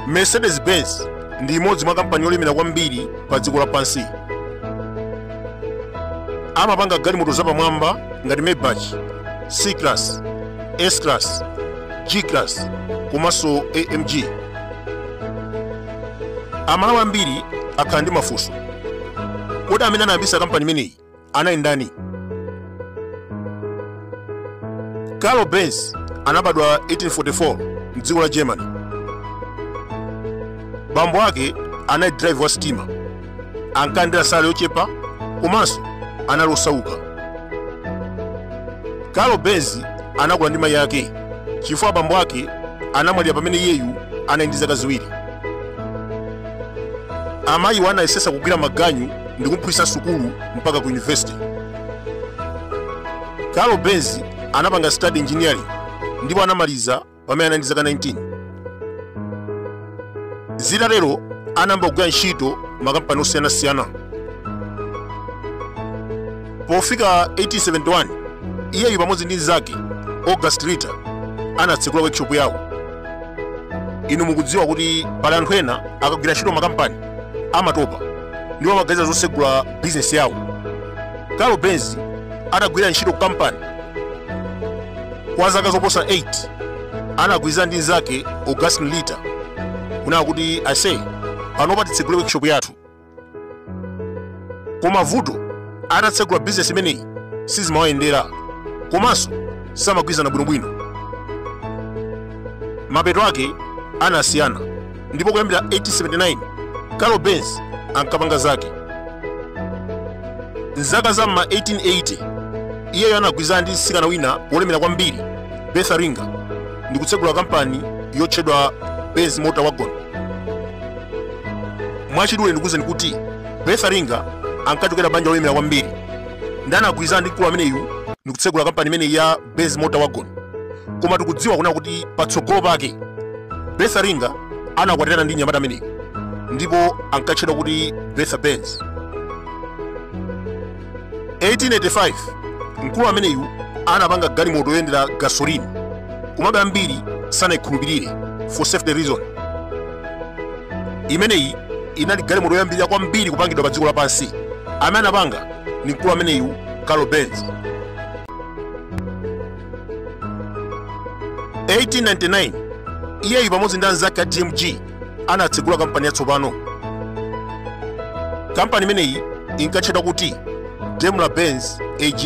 mercedes-benz ndi imodzi mwa kampani yolemera kwambiri pa dziko lapansi amapanga galimoto zapamwamba ngati maybach c class s class g class komanso amg amalawi ambiri akhala ndi mafunso kodi amene anayambisa kampani imeneyi anali ndani carl benz anabadwa 1844 mdziko la germany bambo ake anali driver wa sitima ankalandira salary yochepa komanso anali osauka carl benz anakula ndi mayi ake chifukwa abambo ake anamwalira pamene iyeyu anali ndi zaka ziwiri amayiwo anayesesa kugwira maganyu ndi kumphunzitsa sukulu mpaka ku university carl benz anapanga study engineering ndipo anamaliza pamene anali ndi zaka 19 zitatero anayamba kugwira ntchito makampani osiyanasiyana pofika 1871 iyeyu pamodzi ndi mnzake august ritter anatsegula workshop yawo inu mukudziwa kuti pali anthu ena akagwira ntchito makampani amatopa ndipo amaganiza zosegula bizinesi yawo carl benz atagwira ntchito ku kampani kwa zaka zoposa 8 anagwirizana ndi mnzake augustin ritter kunena kuti aise panopa titsegule workshop yathu koma vuto atatsegula bizinesi imeneyi sizimawayendera komanso samagwirizana bwinobwino mapeto ake anasiyana ndipo kuyambira 1879 carl benz ankapanga zake mzaka za ma 1880 iyeyo anagwirizana ndi mtsikana wina wolemera kwambiri bertha ringer ndi kutsegula kampani yotchedwa benz motorwagen mwachidule ndikuwuzeni kuti bertha ringer ankachokera banja lolemera kwambiri ndi anagwirizana ndi mkulu ameneyu ndi kutsegula kampani imeneyi ya benz motorwagen koma tikudziwa kunena kuti patsogolo pake bertha ringer anakwatirana ndi nyamata ameneyu ndipo ankatchedwa kuti bertha benz 1885 mkulu ameneyu anapanga galimoto yoyendera gasoline komabe ambiri sanayikhulupirire for safety reason imeneyi inali galimoto yoyambirira kwambiri kupangidwa pa dziko lapansi amene anapanga ndi mkulu ameneyu carl benz 1899 iyeyu pamodzi ndi anzake a dmg anatsegula kampani yatsopano kampani imeneyi inkatchedwa kuti daimler benz ag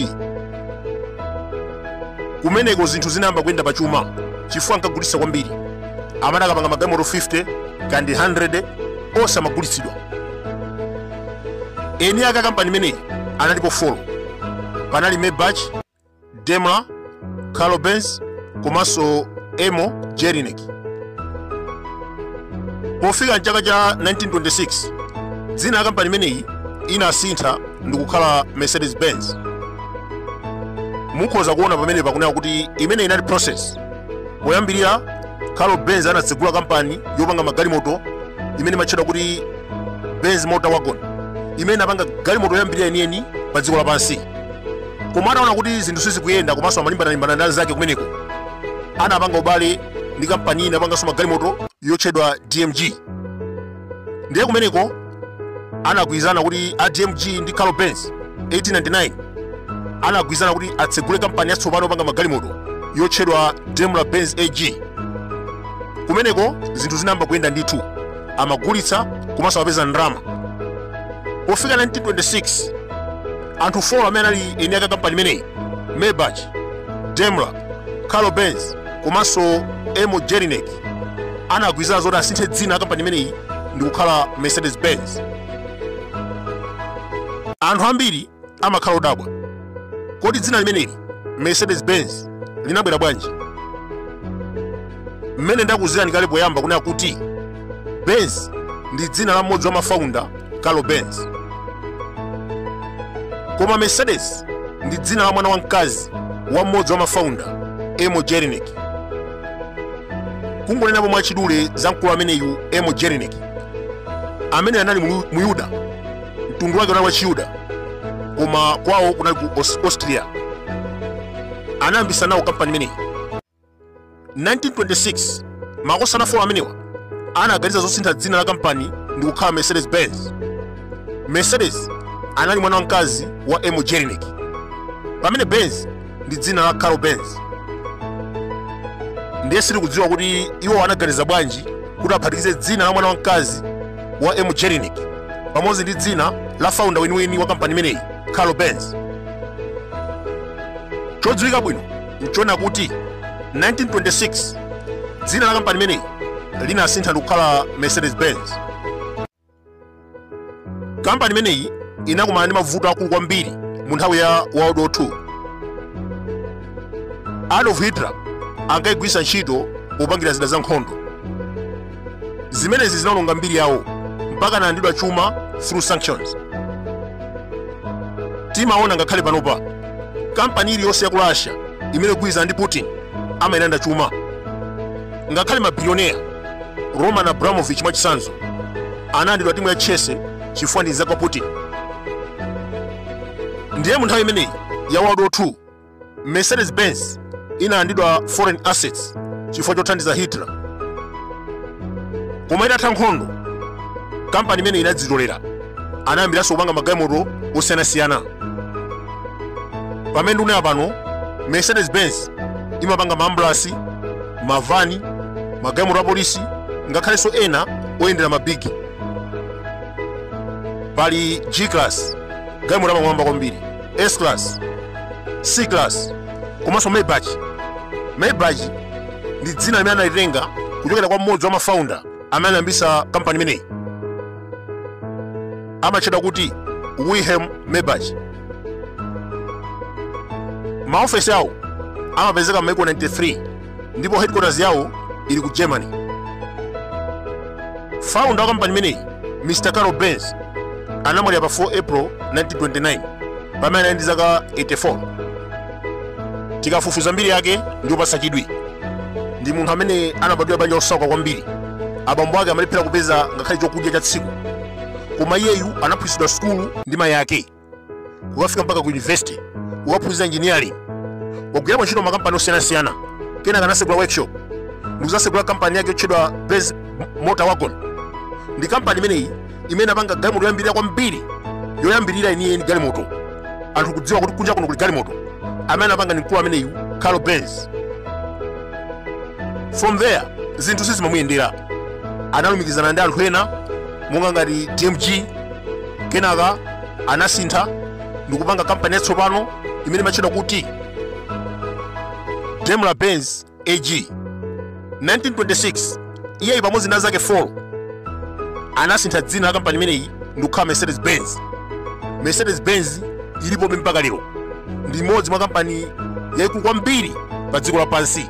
kumeneko zinthu zinayamba kuyenda pa chuma chifukwa ankagulitsa kwambiri amati akapanga magalimoto 50 kandi 100 onse amagulitsidwa eni ake a kampani imeneyi analipo 4 panali maybach daimler carl benz komanso emil jelinek pofika mchaka cha 1926 dzina la kampani imeneyi inasintha ndikukhala mercedes benz mukhoza kuona pamenepa kunena kuti imene inali process poyambirira carl benz anatsegula kampani yopanga magalimoto imene imatchedwa kuti benz motor wagon imene inapanga galimoto yoyambirira yeniyeni pa dziko lapansi koma ataona kuti zinthu sizikuyenda komanso amalimbana-limbana ndi anzake kumeneko anapanga ubale ndi kampani ina yopanganso magalimoto yotchedwa dmg ndiye kumeneko anagwirizana kuti a dmg ndi carl benz 1899 anagwirizana kuti atsegule kampani yatsopano yopanga magalimoto yotchedwa daimler benz ag kumeneko zinthu zinayamba kuyenda ndithu amagulitsa komanso amapeza ndalama pofika 1926 anthu 4 amene anali eni aka kampani imeneyi maybach daimler carl benz komanso emil jelinek anagwirizana zoti asinthe dzina la kampani imeneyi ndi kukhala mercedes benz anthu ambiri amakhala odabwa. Kodi dzina limeneli Mercedes-Benz linabwera bwanji? Mmene ndakuuzirani kale poyamba kunena kuti Benz ndi dzina la mmodzi wa mafaunda Carl Benz. Koma Mercedes ndi dzina la mwana wamkazi wa mmodzi wa mafaunda Emil Jelinek. Kungonenapo mwachidule za mkulu ameneyu Emil Jelinek amene anali Mlu- Muyuda mtundu wake unali wa chiyuda koma kwawo kunali ku Aus- austria anayambisa nawo kampani imeneyi 1926 makosana 4 amenewa anaganiza zosintha dzina la kampani ndi kukhala mercedes benz mercedes anali mwana wamkazi wa emil jelinek pamene benz ndi dzina la carl benz ndiye sitikudziwa kuti iwo anaganiza bwanji kuti aphatikize dzina la mwana wamkazi wa emil jelinek pamodzi ndi dzina la faunda weniweni wa kampani imeneyi carl benz chodziwika bwino nchonena kuti 1926 dzina la kampani imeneyi linasintha ndikukhala mercedes benz kampani imeneyi inakumana ndi mavuto akulu kwambiri mu nthawi ya world war 2 adolf hitler ankayigwiritsa ntchito popangira zida za nkhondo zimenezi zinaononga mbiri yawo mpaka analandidwa chuma through sanctions timaona ngakhale panopa kampani iliyonse ya ku russia imene igwirizana ndi putin amailanda chuma ngakhale mabilionea Roman Abramovich mwachitsanzo analandidwa timu ya Chelsea chifukwa ndi mnzake wa Putin. Ndiye mu nthawi imeneyi ya World War II, Mercedes Benz inalandidwa foreign assets chifukwa chothandiza Hitler. Koma itatha nkhondo, kampani imeneyi inadzitolera, anayambiranso kupanga magalimoto osiyanasiyana. Pamene ndikunena pano, Mercedes Benz imapanga maambulasi, mavani magalimoto apolisi ngakhalenso ena oyendera mabigi pali g class galimoto apamwamba kwambiri s class c class komanso maybach maybach ndi dzina limene analitenga kuchokera kwa mmodzi wa mafounder amene anayambitsa kampani imeneyi amatchedwa kuti wilhelm maybach maofesi awo amapezeka m'maiko 93 ndipo headquarters yawo ili ku germany founder wa kampani imeneyi mr karl benz anamwalira pa 4 april 1929 pamene anali ndi zaka 84 tikafufuza mbiri yake ndi yopatsa chidwi ndi munthu amene anabadwira banja losauka kwambiri abambo ake amalephera kupeza ngakhale chakudya cha tsiku koma iyeyu anaphunzitsidwa sukulu ndi mayi ake kukafika mpaka ku university kukaphunzira engineering wagwirapo ntchito m'makampani osiyanasiyana kenaka anasegula workshop ndikuzasegula kampani yake yotchedwa benz motor wagon ndi kampani imeneyi imene inapanga galimoto yoyambirira kwambiri yoyambirira yeniyeni galimoto anthu kudziwa kuti kunja kuno kuli galimoto amene anapanga ndi mkulu ameneyu karl benz from there zinthu sizimamuyendera analumikizana ndi anthu ena monga ngati dmg kenaka anasintha ndikupanga kampani yatsopano imene imatchedwa kuti daimler benz ag 1926 iyeyu pamodzi ndi anzake 4 anasintha dzina la kampani imeneyi ndikukhala mercedes benz mercedes benz ilipobe mpaka lero ndi imodzi mwa kampani yaikulu kwambiri pa dziko lapansi